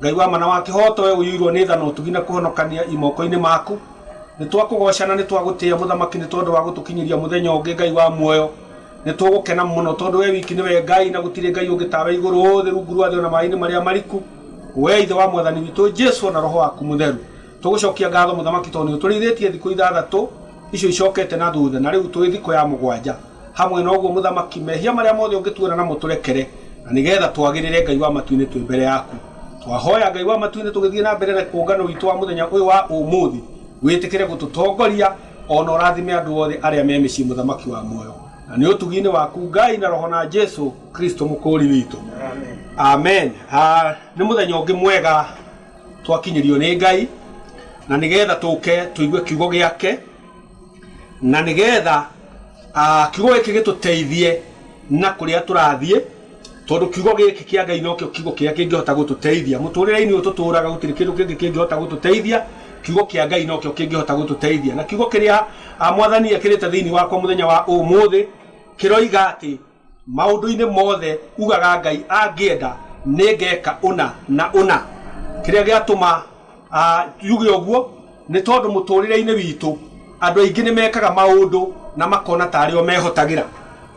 Ngai wa mana wa kĩhooto, we ũiyũirwo nĩ tha na ũtugi na kũhonokania i moko-inĩ maku. Nĩtwakũgooca na nĩtwagũtĩĩa Mũthamaki nĩ tondũ wa gũtũkinyĩria mũthenya ũngĩ, Ngai wa muoyo. Nĩtũgũkena mũno tondũ we wiki nĩwe Ngai na gũtirĩ Ngai ũngĩ tawe igũrũ, thĩ, rungu rwa thĩ o na maaĩ-inĩ marĩa mariku. We Ithe wa Mwathani witũ Jesu o na Roho waku Mũtheru. Tũgũcokia ngatho Mũthamaki tondũ nĩũtũrĩithĩtie thikũ ithathatũ icio icokete na thutha na rĩu tũĩ thikũ ya mũgwanja. Hamwe na ũguo, Mũthamaki, mehia marĩa mothe ũngĩtuona namo tũrekere, na nĩ geetha twagĩrĩre Ngai wa matu-inĩ twĩ mbere yaku. Twahoya, Ngai wa matu-inĩ, tũgĩthiĩ na mbere na kũngano witũ wa mũthenya ũyũ wa ũmũthĩ, wĩtĩkĩre gũtũtongoria, o na ũrathime andũ othe arĩa me mĩciĩ, Mũthamaki wa muoyo. Na nĩ ũtugi-inĩ waku, Ngai, na Roho, na Jesũ Kristũ Mũkũũri witũ. Amen. Nĩ mũthenya ũngĩ mwega twakinyĩrio nĩ Ngai, na nĩ geetha tũũke tũigue kiugo gĩake. Na nĩ getha kiugo gĩkĩ gĩtũteithie na kũrĩa tũrathiĩ, tondũ kiugo gĩkĩ kĩa Ngai nokĩo kiugo kĩrĩa kĩngĩhota gũtũteithia. Mũtũrĩre-inĩ ũyũ tũtũraga gũtirĩ kĩndũ kĩngĩ kĩngĩhota gũtũteithia, kiugo kĩa Ngai nokĩo kĩngĩhota gũtũteithia. Na kiugo kĩrĩa Mwathani ekĩrĩte thĩinĩ wakwa mũthenya wa ũmũthĩ, kĩroiga atĩ, Maũndũ-inĩ mothe ugaga Ngai angĩenda nĩngeka ũna na ũna. Kĩrĩa gĩatũma njuge ũguo nĩ tondũ mũtũrĩre-inĩ witũ andũ aingĩ nĩ mekaga maũndũ na makona ta arĩ o mehotagĩra.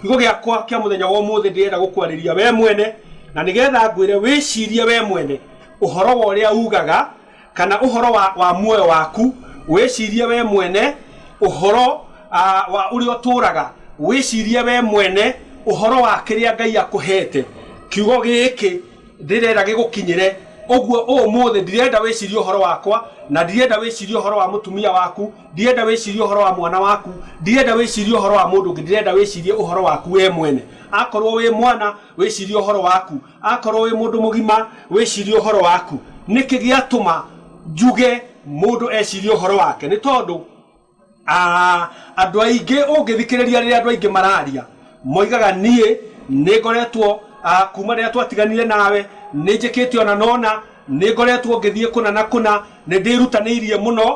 Kiugo gĩakwa kĩa mũthenya wa ũmũthĩ ndĩrenda gũkwarĩria we mwene na nĩgetha ngwĩre wĩcirie we mwene ũhoro wa ũrĩa ugaga. Kana ũhoro wa, wa muoyo waku, wĩcirie wee mwene ũhoro ah, wa ũrĩa ũtũũraga, wĩcirie wee mwene ũhoro wa kĩrĩa Ngai akũheete. Kiugo gĩkĩ ndĩrenda gĩgũkinyĩre. Ũguo ũũmũthĩ ndirenda wĩcirie ũhoro wakwa, na ndirenda wĩcirie ũhoro wa mũtumia waku, ndirenda wĩcirie ũhoro wa mwana waku, ndirenda wĩcirie ũhoro wa mũndũ ũngĩ, ndĩrenda wĩcirie ũhoro waku wee mwene. Akorwo wĩ mwana, wĩcirie ũhoro waku. Akorwo wĩ mũndũ mũgima, wĩcirie ũhoro waku. Nĩkĩ gĩatũma njuge mũndũ ecirie ũhoro wake? Nĩ tondũ andũ aingĩ ũngĩthikĩrĩria rĩrĩa andũ aingĩ mararia, moigaga niĩ nĩ ngoretwo kuma rĩrĩa twatiganire nawe, nĩ njĩkĩte ũna na ũna, nĩ ngoretwo ngĩthiĩ kũna na kũna, nĩ ndĩrutanĩirie mũno.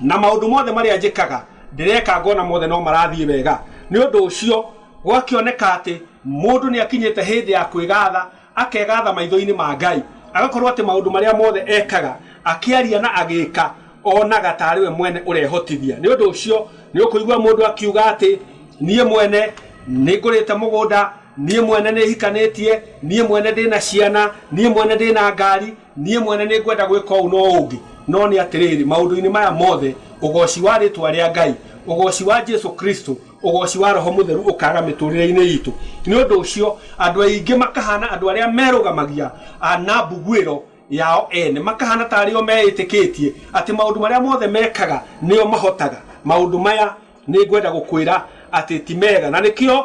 na maũndũ mothe marĩa njĩkaga ndĩreka ngona mothe no marathiĩ wega nĩ ũndũ ũcio gwakĩoneka atĩ mũndũ nĩ akinyĩte hĩndĩ ya kwĩgatha akegatha maitho-inĩ ma Ngai agakorwo atĩ maũndũ marĩa mothe ekaga akĩaria na agĩka onaga tarĩ we mwene ũrehotithia nĩ ũndũ ũcio nĩ ũkũigua mũndũ akiuga atĩ niĩ mwene nĩ ngũrĩte mũgũnda niĩ mwene nĩ hikanĩtie niĩ mwene ndĩna ciana niĩ mwene ndĩna ngari niĩ mwene nĩ ngwenda gwĩka ũũ no ũngĩ no nĩ atĩrĩrĩ maũndũ-inĩ maya mothe ũgoci wa rĩtwa rĩa ngai ũgoci wa jesu kristo ũgoci wa roho mũtheru ũkaga mĩtũrĩre-inĩ itũ nĩ ũndũ ũcio andũ aingĩ makahana andũ arĩa merũgamagia a, na mbuguĩro yao ene makahana ta arĩo meĩtĩkĩtie atĩ maũndũ marĩa mothe mekaga nĩo mahotaga maũndũ maya nĩ ngwenda gũkwĩra atĩ ti mega na nĩkĩo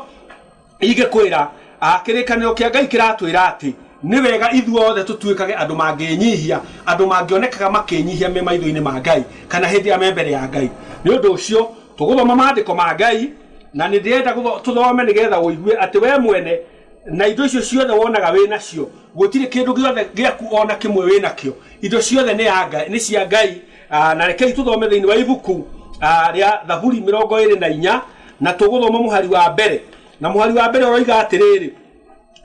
Ingĩkwĩra, a, kĩrĩkanĩro kĩa Ngai kĩratwĩra atĩ nĩ wega ithuothe tũtuĩkage andũ mangĩĩnyihia, andũ mangĩonekaga makĩĩnyihia me maitho-inĩ ma Ngai, kana hĩndĩ ĩrĩa me mbere ya Ngai. Nĩ ũndũ ũcio, tũgũthoma Maandĩko ma Ngai, na nĩ ndĩrenda tũthome nĩ getha ũigue atĩ wee mwene na indo icio ciothe wonaga wĩ nacio, gũtirĩ kĩndũ gĩothe gĩaku o na kĩmwe wĩ nakĩo. Indo ciothe nĩ ya Ngai, nĩ cia Ngai. Ah, na rekei tũthome thĩinĩ wa ibuku ah, rĩa thaburi mĩrongo ĩrĩ na inya na tũgũthoma mũhari wa mbere na mũhari wa mbere ũroiga atĩrĩrĩ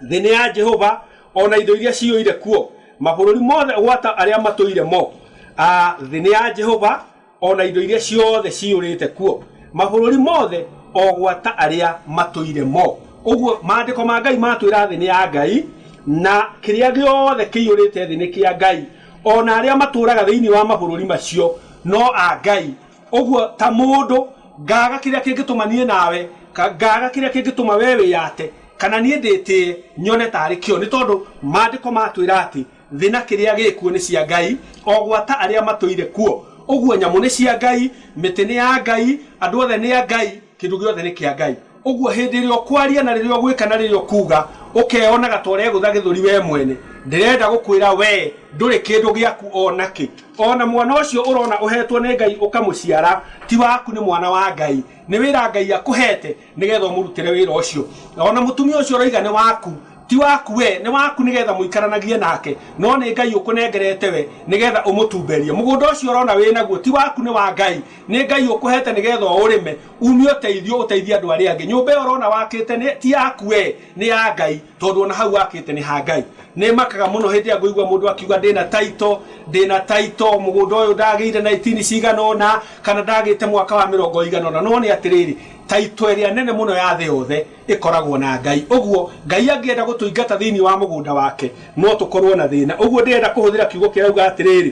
thĩ nĩ ya jehova o na indo iria ciyũire kuo mabũrũri mothe gwata arĩa matũire mo Ah, thĩ nĩ ya jehova o na indo iria ciothe ciyũrĩte kuo mabũrũri mothe o gwata arĩa matũire mo ũguo maandĩko ma ngai matwĩra thĩ nĩ ya ngai na kĩrĩa gĩothe kĩiyũrĩte thĩ nĩ kĩa ngai O na arĩa matũũraga thĩinĩ wa mabũrũri macio no a Ngai. Ũguo ta mũndũ, ngaaga kĩrĩa kĩngĩtũma niĩ nawe, ngaaga kĩrĩa kĩngĩtũma wee wĩyate, kana niĩ ndĩtĩĩe, nyone taarĩ kĩo. Nĩ tondũ Maandĩko matwĩra atĩ thĩ na kĩrĩa gĩ kuo nĩ cia Ngai, o gwata arĩa matũire kuo. Ũguo nyamũ nĩ cia Ngai, mĩtĩ nĩ ya Ngai, andũ othe nĩ a Ngai. Kĩndũ gĩothe nĩ kĩa Ngai. Ũguo hĩndĩ ĩrĩa ũkwaria na rĩrĩa ũgwĩka na rĩrĩa ũkuuga, ũkeyonaga ta ũregũtha gĩthũri wee mwene. Ndĩrenda gũkwĩra wee ndũrĩ kĩndũ gĩaku o na kĩ. O na mwana ũcio ũrona ũheetwo nĩ Ngai ũkamũciara, ti waku nĩ mwana wa Ngai. Nĩ wĩra Ngai akũheete nĩ geetha ũmũrutĩre wĩra ũcio. O na mũtumia ũcio ũroiga nĩ waku, ti waku wee, nĩ waku nĩ geetha mũikaranagie nake, no nĩ Ngai ũkũnengerete we nĩ geetha ũmũtumberie. Mũgũnda ũcio ũrona wĩ naguo, ti waku nĩ wa Ngai. Nĩ Ngai ũkũhete nĩgetha ũũrĩme, uumie ũteithio ũteithie andũ arĩa angĩ. Nyũmba ĩyo ũrona wakĩte nĩ, ti yaku wee, nĩ ya Ngai, tondũ o na hau wakĩte nĩ ha Ngai. Nĩ makaga mũno hĩndĩ ĩrĩa ngũigua mũndũ akiuga ndĩ na title, ndĩ na title, mũgũnda ũyũ ndagĩire na itini cigana ũna, kana ndagĩte mwaka wa mĩrongo ĩigana ũna. No nĩ atĩrĩrĩ, title ĩrĩa nene mũno ya thĩ yothe ĩkoragwo na Ngai. Ũguo, Ngai angĩenda gũtũingata thĩinĩ wa mũgũnda wake, no tũkorũo na thĩna. Ũguo ndĩrenda kũhũthĩra kiugo kĩrauga atĩrĩrĩ.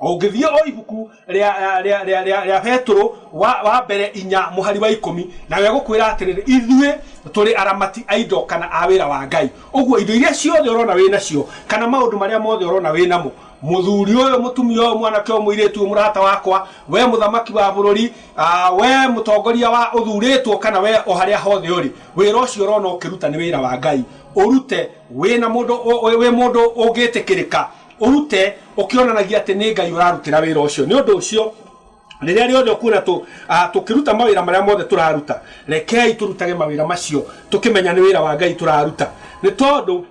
Ũngĩthiĩ o ibuku rĩa, rĩa, rĩa, rĩa, rĩa Petũrũ wa, wa mbere inya mũhari wa ikũmi, nayo ĩgũkwĩra atĩrĩrĩ, ithuĩ tũrĩ aramati a indo kana a wĩra wa Ngai. Ũguo indo iria ciothe ũrona wĩ nacio, kana maũndũ marĩa mothe ũrona wĩ namo, mũthuri ũyũ, mũtumia ũyũ, mwanake ũyũ, mũirĩtu ũyũ, mũrata wakwa, wee mũthamaki wa bũrũri, ah, wee mũtongoria wa ũthurĩtwo, kana wee o harĩa hothe ũrĩ, wĩra ũcio ũrona ũkĩruta nĩ wĩra wa Ngai. Ũrute wĩ na mũndũ, wĩ mũndũ ũngĩtĩkĩrĩka, Ũrute ũkĩonanagia atĩ nĩ Ngai ũrarutĩra wĩra ũcio. Nĩ ũndũ ũcio, rĩrĩa rĩothe ũkuona tũkĩruta mawĩra marĩa mothe tũraruta, rekei tũrutage mawĩra macio tũkĩmenya nĩ wĩra wa Ngai tũraruta. Nĩ tondũ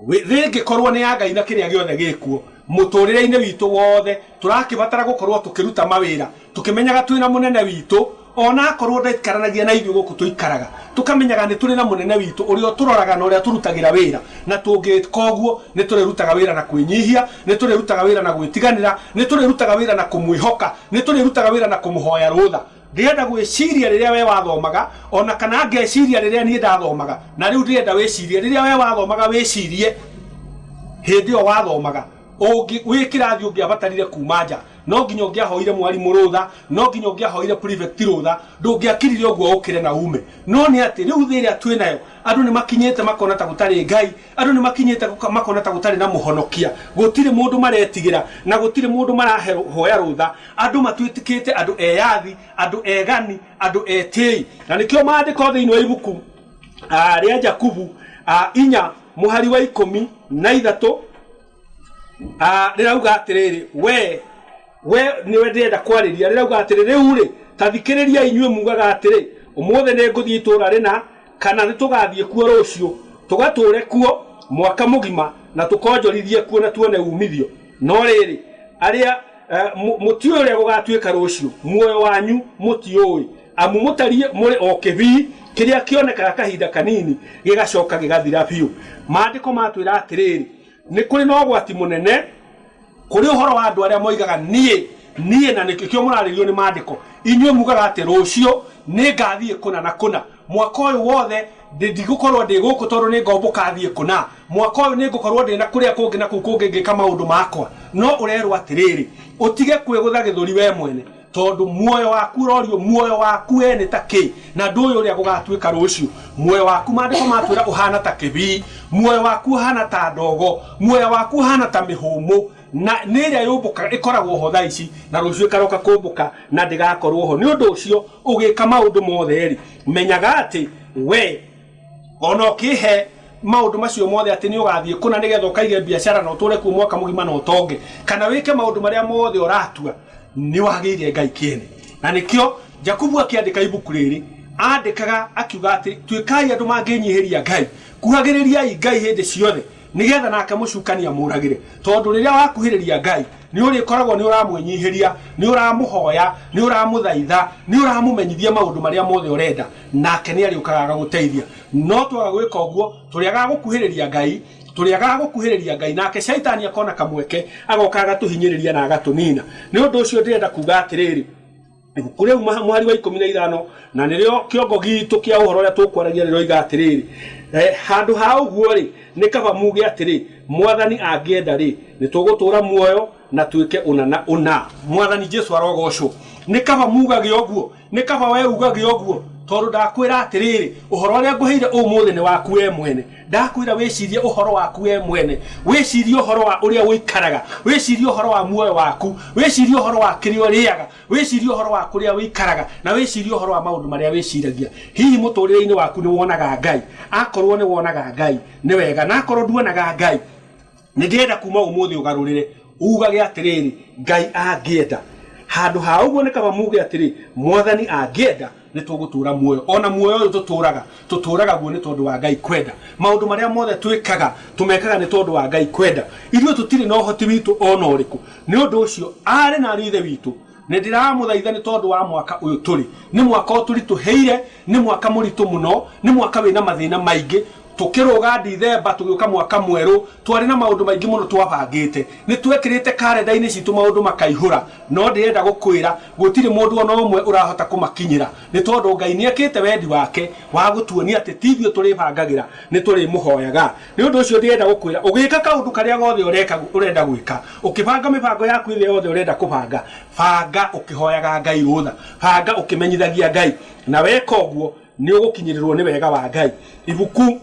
thĩ ĩngĩkorũo nĩ ya Ngai na kĩrĩa gĩothe gĩ kuo, mũtũũrĩre-inĩ witũ wothe tũrakĩbatara gũkorũo tũkĩruta mawĩra tũkĩmenyaga twĩ na Mũnene witũ, O na akorũo ndaikaranagia na ithuĩ gũkũ tũikaraga, tũkamenyaga nĩ tũrĩ na Mũnene witũ ũrĩa ũtũroraga na ũrĩa tũrutagĩra wĩra, na tũngĩka ũguo, nĩ tũrĩrutaga wĩra na kwĩnyihia, nĩ tũrĩrutaga wĩra na gwĩtiganĩra, nĩ tũrĩrutaga wĩra na kũmwĩhoka, nĩ tũrĩrutaga wĩra na kũmũhoya rũtha. Ndĩrenda gwĩciria rĩrĩa wee wathomaga, o na kana ngeciria rĩrĩa niĩ ndathomaga, na rĩu ndĩrenda wĩcirie rĩrĩa wee wathomaga wĩcirie hĩndĩ ĩyo wathomaga. Ũngĩ, wĩ kĩrathi ũngĩabatarire kuuma nja, no nginya ũngĩahoire mwarimũ rũtha, no nginya ũngĩahoire prefect rũtha, ndũngĩakirire ũguo ũkĩre na uume. No nĩ atĩ, rĩu thĩ ĩrĩa twĩ nayo, andũ nĩ makinyĩte makona ta gũtarĩ Ngai, andũ nĩ makinyĩte makona ta gũtarĩ na mũhonokia, gũtirĩ mũndũ maretigĩra, na gũtirĩ mũndũ marahoya rũtha, andũ matuĩkĩte andũ eyathi, andũ egani, andũ etĩĩi. Na nĩkĩo maandĩko thĩinĩ wa ibuku. ah, rĩa jakubu ah, inya mũhari wa ikũmi na ithatũ ah, rĩrauga atĩrĩrĩ we we nĩwe ndĩrenda kwarĩria rĩrauga atĩrĩ rĩu-rĩ ta thikĩrĩria inyuĩ mugaga atĩrĩ ũmũthĩ nĩ ngũthiĩ itũũra rĩna kana nĩ tũgathiĩ kuo rũciũ tũgatũũre kuo mwaka mũgima na tũkonjorithie kuo na tuone umithio no rĩrĩ arĩa Eh, mu- mũtiũĩ ũrĩa gũgatuĩka rũciũ muoyo wanyu mũtiũĩ amu mũtariĩ mũrĩ o kĩbii kĩrĩa kĩonekaga kahinda kanini gĩgacoka gĩgathira biũ maandĩko matwĩra atĩrĩrĩ nĩ kũrĩ na ũgwati mũnene kũrĩ ũhoro wa andũ arĩa moigaga niĩ niĩ na nĩkĩo mũrarĩrio nĩ maandĩko inyuĩ mugaga atĩ rũciũ nĩ ngathiĩ kũna na kũna mwaka ũyũ wothe ndĩ- ndigũkorwo ndĩ gũkũ tondũ nĩ ngombũka thiĩ kũ na mwaka ũyũ nĩ ngũkorwo ndĩ na kũrĩa kũngĩ na kũu kũngĩ ngĩka maũndũ makwa no ũrerwo atĩrĩrĩ ũtige kwĩgũtha gĩthũri we mwene tondũ muoyo waku ũrorio muoyo waku we nĩ ta kĩ na ndũĩ ũrĩa gũgatuĩka rũciũ muoyo waku maandĩko matwĩra ũhana ta kĩbii muoyo waku ũhana ta ndogo muoya waku ũhana ta mĩhũmũ Na nĩ ĩrĩa yũmbũkaga ĩkoragwo ho thaa ici, na rũciũ ĩkaroka kũmbũka, na ndĩgakorwo ho. Nĩ ũndũ ũcio, ũgĩĩka maũndũ mothe-rĩ, menyaga atĩ wee, o na ũkĩĩhe maũndũ macio mothe atĩ nĩũgathiĩ kũna nĩ getha ũkaige mbiacara na ũtũũre kuo mwaka mũgima na ũtonge, kana wĩke maũndũ marĩa mothe ũratua, nĩwagĩire Ngai kĩene. Na nĩkĩo Jakubu akĩandĩka ibuku rĩrĩ, aandĩkaga akiuga atĩ, Tuĩkai andũ mangĩĩnyihĩria Ngai. Kuhagĩrĩriai Ngai hĩndĩ ciothe, nĩgetha nake mũcukani amũũragĩre, tondũ rĩrĩa wakuhĩrĩria Ngai, nĩũrĩkoragwo nĩũramwĩnyihĩria, nĩũramũhoya, nĩũramũthaitha, nĩũramũmenyithia maũndũ marĩa mothe ũrenda, nake nĩarĩũkaga agagũteithia. No twaga gwĩka ũguo, tũrĩagaga gũkuhĩrĩria Ngai, tũrĩagaga gũkuhĩrĩria Ngai, nake Shaitani akona kamweke, agoka agatũhinyĩrĩria na agatũnina. Nĩ ũndũ ũcio ndĩrenda kuuga atĩrĩrĩ. Ibuku rĩu mũhari wa ikũmi na ithano na nĩrĩo kĩongo gitũ kĩa ũhoro ũrĩa tũkwaragia rĩroiga atĩrĩrĩ, eh, handũ ha ũguo-rĩ, nĩ kaba muge atĩrĩ, Mwathani angĩenda-rĩ, nĩtũgũtũũra muoyo na twĩke ũna na ũna. Mwathani Jesu arogoocwo! Nĩ kaba mugage ũguo. Nĩ kaba wee ugage ũguo, tondũ ndakwĩra atĩrĩrĩ, ũhoro ũrĩa ngũheire ũmũthĩ nĩ waku wee mwene. Ndakwĩra wĩcirie ũhoro waku wee mwene, wĩcirie ũhoro wa ũrĩa ũikaraga, wĩcirie ũhoro wa muoyo waku, wĩcirie ũhoro wa kĩrĩa ũrĩaga, wĩcirie ũhoro wa kũrĩa ũikaraga, na wĩcirie ũhoro wa maũndũ marĩa wĩciragia. Hihi mũtũũrĩre-inĩ waku nĩ wonaga Ngai? Akorũo nĩ wonaga Ngai, nĩ wega. Na akorũo nduonaga Ngai? Nĩndĩrenda kuuma ũmũthĩ ũgarũrĩre, uugage atĩrĩrĩ, Ngai angĩenda. Handũ ha ũguo, nĩ kaba muuge atĩrĩ, Mwathani angĩenda, nĩ tũgũtũũra muoyo. O na muoyo ũyũ tũtũũraga, tũtũũraga guo nĩ tondũ wa Ngai kwenda. Maũndũ marĩa mothe twĩkaga, tũmekaga nĩ tondũ wa Ngai kwenda. Ithuĩ tũtirĩ na ũhoti witũ o na ũrĩkũ. Nĩ ũndũ ũcio, aarĩ na ariũ a Ithe witũ, Nĩndĩramũthaitha nĩ tondũ wa mwaka ũyũ tũrĩ. Nĩ mwaka ũtũritũhĩire, nĩ mwaka mũritũ mũno, nĩ mwaka wĩna mathĩna maingĩ. Tũkĩrũga Ndithemba tũgĩũka mwaka mwerũ, twarĩ na maũndũ maingĩ mũno twabangĩte. Nĩtwekĩrĩte karenda-inĩ citũ maũndũ makaihũra, no ndĩrenda gũkwĩra gũtirĩ mũndũ o na ũmwe ũrahota kũmakinyĩra, nĩ tondũ Ngai nĩekĩte wendi wake wa gũtuonia atĩ ti ithuĩ tũrĩbangagĩra, nĩtũrĩmũhoyaga. Nĩ ũndũ ũcio ndĩrenda gũkwĩra, ũgĩka kaũndũ karĩa gothe ũreka, ũrenda gwĩka, ũkĩbanga mĩbango yaku ĩrĩa yothe ũrenda kũbanga, banga ũkĩhoyaga Ngai rũtha, banga ũkĩmenyithagia Ngai, na weka ũguo nĩ ũgũkinyĩrĩrũo nĩ wega wa Ngai. Ibuku,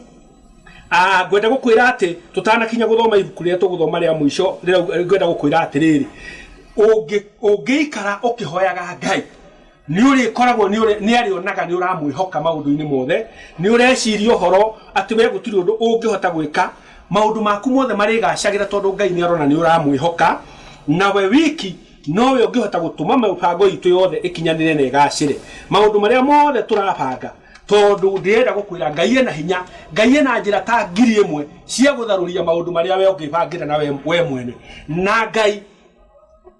a Ngwenda gũkwĩra atĩ, tũtanakinya gũthoma ibuku rĩrĩa tũgũthoma rĩa mũico, rĩrauga, ngwenda gũkwĩra atĩrĩrĩ, ũngĩ, ũngĩikara ũkĩhoyaga Ngai, Nĩ ũrĩkoragwo nĩ arĩonaga nĩ ũramwĩhoka maũndũ-inĩ mothe, nĩ ũreciria ũhoro atĩ wee gũtirĩ ũndũ ũngĩhota gwĩka, maũndũ maku mothe marĩgacagĩra tondũ Ngai nĩ arona nĩ ũramwĩhoka, na we wiki nowe ũngĩhota gũtũma mĩbango itũ yothe ĩkinyanĩre na ĩgacĩre. Maũndũ marĩa mothe tũrabanga, tondũ ndĩrenda gũkwĩra Ngai ena hinya, Ngai ena njĩra ta ngiri ĩmwe cia gũtharũria maũndũ marĩa we ũngĩbangĩra na we mwene na Ngai.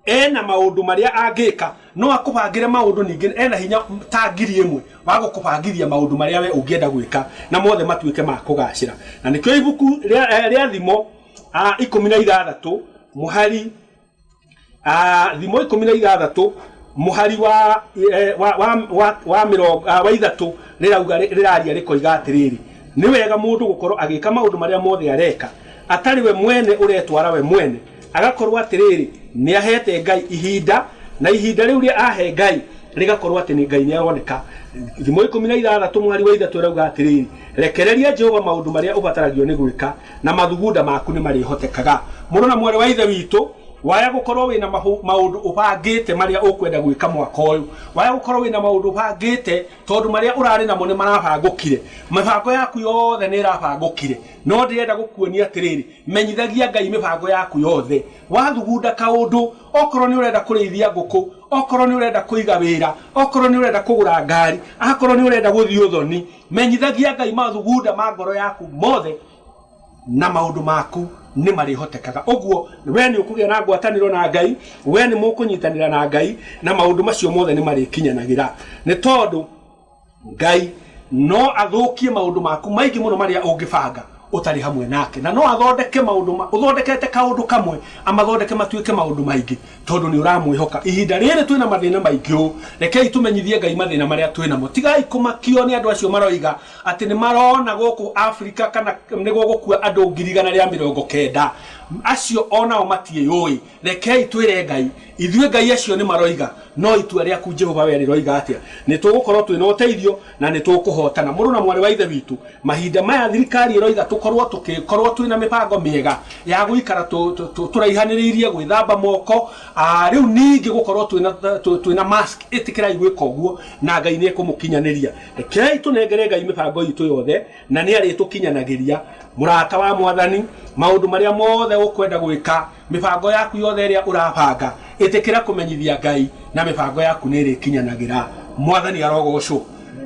ena maundu maria angika no akubangire maundu ningi ena hinya ta ngiri imwe wa gukubangithia maundu maria we ungienda gwika na mothe matuike ma kugacira na nikio ibuku ria ria thimo ah, ikumi na ithathatu muhari ah, thimo ikumi na ithathatu muhari wa eh, wa wa wa, wa mirongo ah, wa ithatu rirauga ri- riraria rikoiga atiriri ni wega mundu gukorwo agika maundu maria mothe areka atari we mwene uretwara we mwene Agakorwo atĩrĩrĩ, nĩaheete Ngai ihinda, na ihinda rĩu rĩa ahe Ngai rĩgakorwo atĩ nĩ Ngai nĩaroneka. Thimo ikũmi na ithathatũ mwari wa ithatũ ĩrauga atĩrĩrĩ, Rekereria Jehova maũndũ marĩa ũbataragio nĩ gwĩka, na mathugunda maku nĩmarĩhotekaga. Mũrũ na mwarĩ wa Ithe witũ, waya gũkorwo wĩna maũndũ ũbangĩte marĩa ũkwenda gwĩka mwaka ũyũ, waya gũkorwo wĩna maũndũ ũbangĩte tondũ marĩa ũrarĩ namo nĩmarabangũkire, mĩbango yaku yothe nĩĩrabangũkire, no ndĩrenda gũkuonia atĩrĩrĩ, Menyithagia Ngai mĩbango yaku yothe. Wathugunda kaũndũ, okorwo nĩ ũrenda kũrĩithia ngũkũ, okorwo nĩ ũrenda kũiga wĩra, okorwo nĩ ũrenda kũgũra ngari, akorwo nĩ ũrenda gũthiĩ ũthoni, menyithagia Ngai mathugunda ma ngoro yaku mothe na maũndũ maku nĩ marĩhotekaga. Ũguo we nĩ ũkũgĩa na ngwatanĩro na Ngai, we nĩ mũkũnyitanĩra na Ngai na maũndũ macio mothe nĩ marĩkinyanagĩra. Nĩ tondũ. Ngai no athũkie maũndũ maku maingĩ mũno marĩa ũngĩbanga ũtarĩ hamwe nake. Na no athondeke maũndũ ũthondekete kaũndũ kamwe, amathondeke matuĩke maũndũ maingĩ tondũ nĩ ũramwĩhoka. Ihinda rĩrĩ twĩna mathĩna maingĩ ũũ, rekei tũmenyithie Ngai mathĩna marĩa twĩnamo. Tigai kũmakio nĩ andũ acio maroiga atĩ nĩ marona gũkũ Afrika kana nĩ gũgũkua andũ ngiri igana rĩa mĩrongo kenda. Acio o nao matiĩyũĩ. Rekei twĩre Ngai. Ithuĩ ngai acio nĩ maroiga, no itua rĩaku Jehova wee rĩroiga atĩa? Nĩ tũgũkorũo twĩ na ũteithio na nĩ tũkũhootana. Mũrũ na mwarĩ wa Ithe witũ, mahinda maya thirikari ĩroiga tũkorũo tũkĩkorũo twĩ na mĩbango mĩega ya gũikara tũraihanĩrĩirie, gwĩthamba moko, rĩu ningĩ gũkorũo twĩ na mask. Ĩtĩkĩrai gwĩka ũguo na Ngai nĩ ekũmũkinyanĩria. Rekei tũnengere Ngai mĩbango itũ yothe na nĩ arĩtũkinyanagĩria. Mũrata wa Mwathani, maũndũ marĩa mothe ũkwenda gwĩka Mĩbango yaku yothe ĩrĩa ũrabanga, ĩtĩkĩra kũmenyithia Ngai na mĩbango yaku nĩĩrĩkinyanagĩra. Mwathani arogoocwo.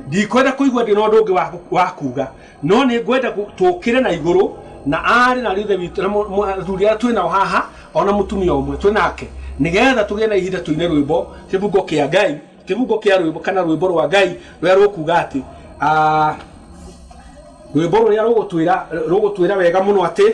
Ndikwenda kũigua ndĩ na ũndũ ũngĩ wa wa kuuga, no nĩngwenda tũũkĩre na igũrũ, na aarĩ na aarĩ Ithe witũ, na mũ, mũ, athuri arĩa twĩ nao haha, o na mũtumia ũmwe twĩ nake, nĩgeetha tũgĩe na ihinda tũine rwĩmbo, Kĩbungo kĩa Ngai, Kĩbungo kĩa rwĩmbo, kana Rwĩmbo rwa Ngai, rũrĩa rũkuuga atĩ, aah, rwĩmbo rũrĩa rũgũtwĩra, rũgũtwĩra wega mũno atĩ,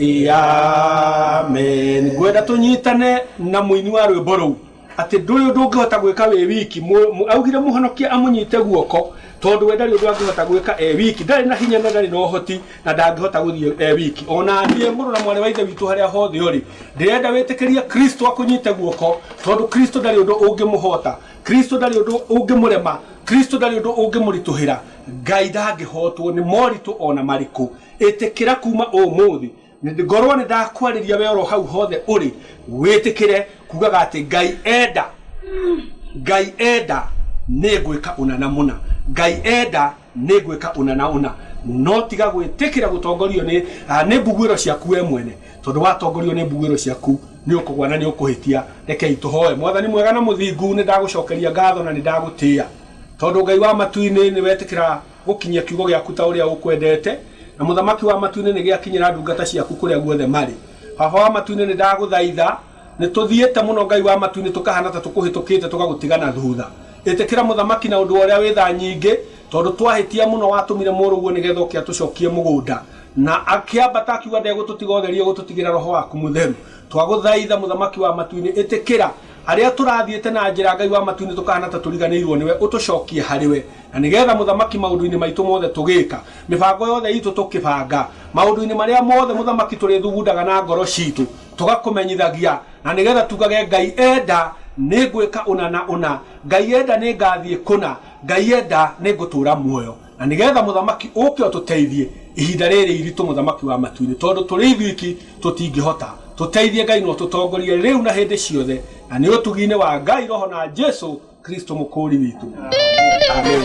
Amen. Ngwenda tũnyitane na mũini wa rwĩmbo rũu atĩ ndũrĩ ũndũ ũngĩhota gwĩka wĩ wiki Mũ- mũ- augire mũhonokia amũnyite guoko tondũ we ndarĩ ũndũ angĩhota gwĩka e wiki ndarĩ na hinya na ndarĩ na ũhoti na ndangĩhota gũthiĩ e wiki ona niĩ mũrũ na mwarĩ wa ithe witũ harĩa hothe ũrĩ ndĩrenda wĩtĩkĩrie kristo akũnyite guoko tondũ kristo ndarĩ ũndũ ũngĩmũhota kristo ndarĩ ũndũ ũngĩmũrema kristo ndarĩ ũndũ ũngĩmũritũhĩra ngai ndangĩhotwo nĩ moritũ ona marĩkũ Ĩtĩkĩra kuuma ũmũthĩ. Ngorũo nĩ ndakwarĩria wee oro hau hothe ũrĩ, wĩtĩkĩre kuugaga atĩ, Ngai enda, Ngai enda, nĩ ngwĩka ũna na mũna. Ngai enda, nĩ ngwĩka ũna na ũna. No tiga gwĩtĩkĩra gũtongorio nĩ, nĩ mbuguĩro ciaku wee mwene. Tondũ watongorio nĩ mbuguĩro ciaku, nĩ ũkũgũa na nĩ ũkũhĩtia. Rekei tũhoe. Mwathani mwega na mũthingu, nĩ ndagũcokeria ngatho na nĩ ndagũtĩa, tondũ Ngai wa matu-inĩ nĩ wetĩkĩra. Gũkinyia kiugo gĩaku ta ũrĩa ũkwendete, Na mũthamaki wa matu-inĩ nĩgĩakinyĩra ndungata ciaku kũrĩa guothe marĩ. Baba wa matu-inĩ nĩndagũthaitha, Nĩtũthiĩte mũno Ngai wa matu-inĩ tũkahana ta tũkũhĩtũkĩte tũgagũtiga na thutha. Ĩtĩkĩra mũthamaki na ũndũ wa ũrĩa wĩ tha nyingĩ, Tondũ twahĩtia mũno watũmire mũrũguo nĩgetha oke atũcokie mũgũnda. Na akĩambata akiuga ndegũtũtiga ũtheri ũgũtũtigĩra roho waku mũtheru. Twagũthaitha mũthamaki wa matu-inĩ ĩtĩkĩra Arĩa tũrathiĩte na njĩra Ngai wa matu-inĩ tũkahana ta tũriganĩirwo nĩwe, ũtũcokie harĩ we. Na nĩ getha Mũthamaki maũndũ-inĩ maitũ mothe tũgĩka, mĩbango yothe itũ tũkĩbanga, maũndũ-inĩ marĩa mothe Mũthamaki tũrĩthugundaga na ngoro citũ, tũgakũmenyithagia, na nĩ getha tugage Ngai enda nĩ ngwĩka ũna na ũna, Ngai enda nĩ ngathiĩ kũna, Ngai enda nĩ ngũtũra muoyo. Na nĩgeetha Mũthamaki ũũke ũtũteithie ihinda rĩĩrĩ iritũ, Mũthamaki wa matu-inĩ, tondũ tũrĩ ithuiki tũtingĩhota. Tũteithie, Ngai, na ũtũtongorie rĩu na hĩndĩ ciothe, na nĩ ũtugi-inĩ wa Ngai Roho na Jesũ Kristũ Mũkũũri witũ. Ameni.